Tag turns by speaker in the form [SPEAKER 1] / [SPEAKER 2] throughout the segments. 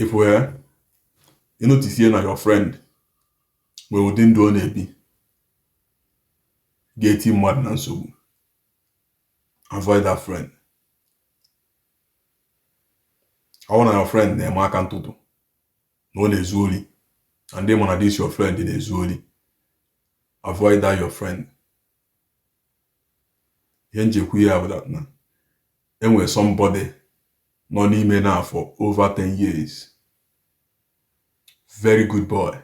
[SPEAKER 1] ị fụ ya ị notisie na your friend nwere ụdị ndụ ọ na-ebi ga-eti mmadụ na nsogbu avoid that friend ọ bụrụ na your friend na-eme aka ntụtụ na ọ na-ezu ori na ndị ma na this your friend na-ezu ori avoid that your friend ihe m ji ekwu ya bụ that na e nwere somebody nọ n'ime now for over 10 years very good boy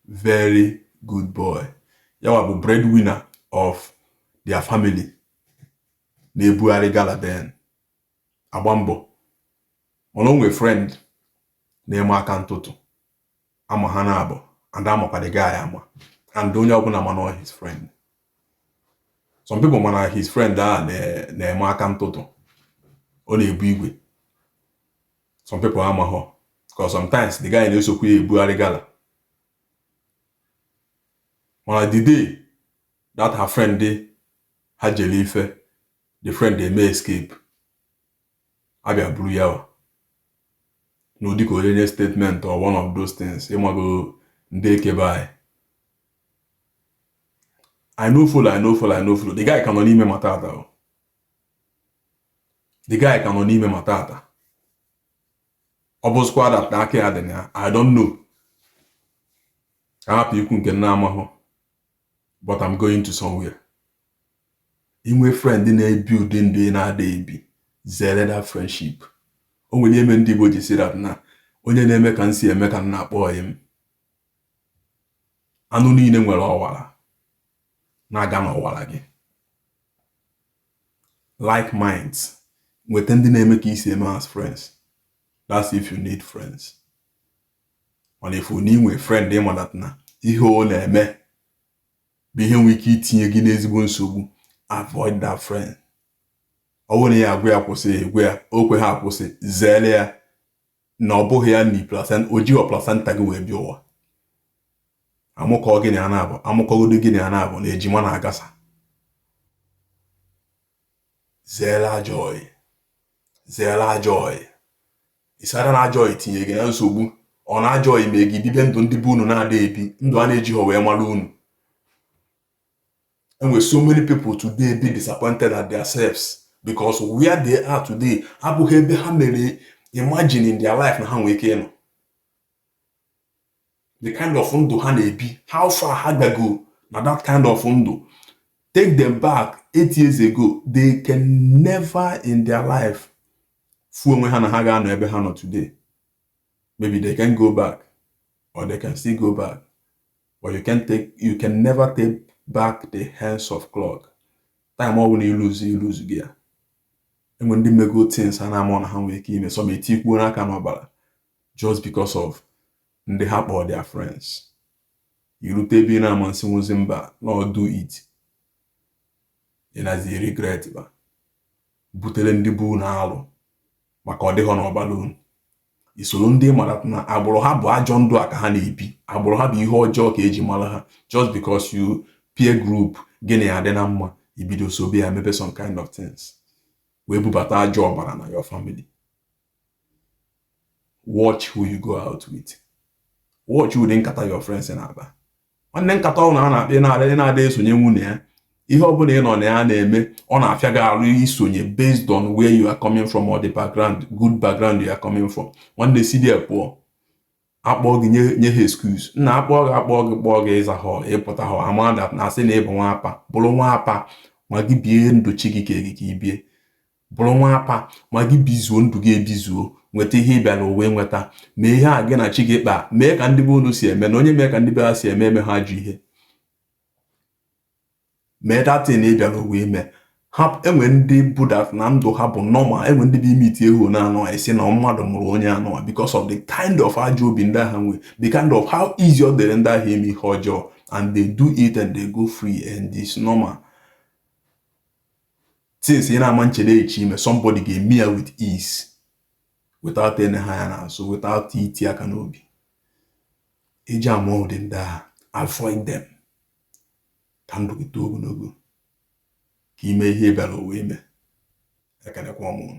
[SPEAKER 1] very good boy ya wa bụ breadwinner of their family na-ebugharị gala then agba mbọ mana o nwere friend na-eme aka ntụtụ a ma ha naabọ and a makwa the guy ama and onye ọbụla ma na ọ his friend some people ma na his friend a na-eme aka ntụtụ ọ na-ebu igwe some people amaghọ because sometimes the guy na-esokwu ya ebugharị gala mana the day that her friend ha jere ife the friend eme escape a bịa buru ya wa n'ụdị ka o denye statement or one of those things ị mago ndị eke be anyị I no follow, I no follow, I no follow. The guy ka nọ n'ime ma tata o. The guy ka nọ n'ime ma tata. Ọ bụzịkwa that aka ya dị na ya. I don't know. Ka m hapụ ikwu nke m na-amaghọ. but I'm going to somewhere i nwee friend na-ebi ụdị ndụ ị na-ada ebi zere that friendship o nwere ihe mere ndị Igbo ji sị that na onye na-eme ka m si eme ka m na-akpọ ọyị m anụ niile nwere ọwara na-aga n'ọwara gị like minds nweta ndị na-eme ka i si eme as friends that's if you need friends ọ na-efu na inwe frend ịmadat na ihe ọ na-eme bụ ihe nwere ike itinye gị n'ezigbo nsogbu avoid that friend ọ bụrụ na ya a gwa ya kwụsị a gwa ya o kweghọ akwụsị zere ya na ọ bụghị ya ni placenta o jighọ placenta gị wee bịa ụwa a mụkọ gị na ya naabọ a mụkọgodo gị na ya naabọ na ejima na-agasa zere ajọ ọyị zere ajọ ọyị Instead na ajọ ọyị etinye gị na nsogbu or na ajọ ọyị eme gị bibe ndụ ndị be unu na-ada ebi ndụ a na-ejighọ wee mara unu e nwere so many people today dị disappointed at their selves because where they are today abụghị ebe ha mere imagine in their life na ha nwere ike ịnọ the kind of ndụ ha na-ebi how far ha gago na that kind of ndụ take them back eight years ago they can never in their life fu onwe ha na ha ga-anọ ebe ha nọ today maybe they can go back or they can still go back but you can take you can never take back the hands of clock time ọ bụla i luzu i luzugo ya enwe ndị mego things a na-ama na ha nwere ike ime some etikwuona aka n'ọbara just because of ndị ha kpọọ their friends irute ebe ị na-ama asịnwuzi mba now do it ị nazi regret bịa butere ndị be unu alụ maka ọ dịghọ n'ọbara unu isoro ndị mara na agbụrụ ha bụ ajọ ndụ a ka ha na-ebi agbụrụ ha bụ ihe ọjọọ ka eji mara ha just because you peer group gị na ya adị na mma ibido sobe ya mebe some kind of things wee bubata ajọ ọbara na your family watch who you go out with watch ụdị nkata your friends na-akpa nwanne nkata ọ na-akpa ị na-ada esonyenwu na ya ihe ọ bụla ị nọ na ya na-eme ọ na-afịa gị arụ isonye based on where you are coming from or the background good background you are coming from nwanne si there pụọ akpọọ gị nye ha excuse nna akpọọ gị akpọọ gị kpọọ gị ị zahọ ị pụtahọ amada na asị na ị bụ nwa apa bụrụ nwa apa ma gị bie ndụ chi gị ka gị ka i bie Bụrụ nwa apa, ma gị bizuo ndụ gị ebizuo, nweta ihe ị bịara ụwa ịnweta, mee ihe a gị na chi gị kpaa, mee ka ndị be unu si eme, na onye mee ka ndị be ha si eme emehọ ajọ ihe. Mee that thing ị bịara ụwa ime. Ha enwe ndị bụ that na ndụ ha bụ normal, enwe ndị bụ i meetie ha na anụ a ị sị na mmadụ mụrụ onye anụ a because of the kind of ajọ obi ndị ahụ nwee, the kind of how easy ọ dịrị ndị ahụ ime ihe ọjọọ and they do it and they go free and it's normal. things ị na-ama nchere eche ime somebody ga-eme ya with ease without ine anya n'azụ without iti aka n'obi eji ama ụdị ndị ahụ avoid them ka ndụ gị too ogologo ka i mee ihe ị bịara ụwa ime ekenekwa m unu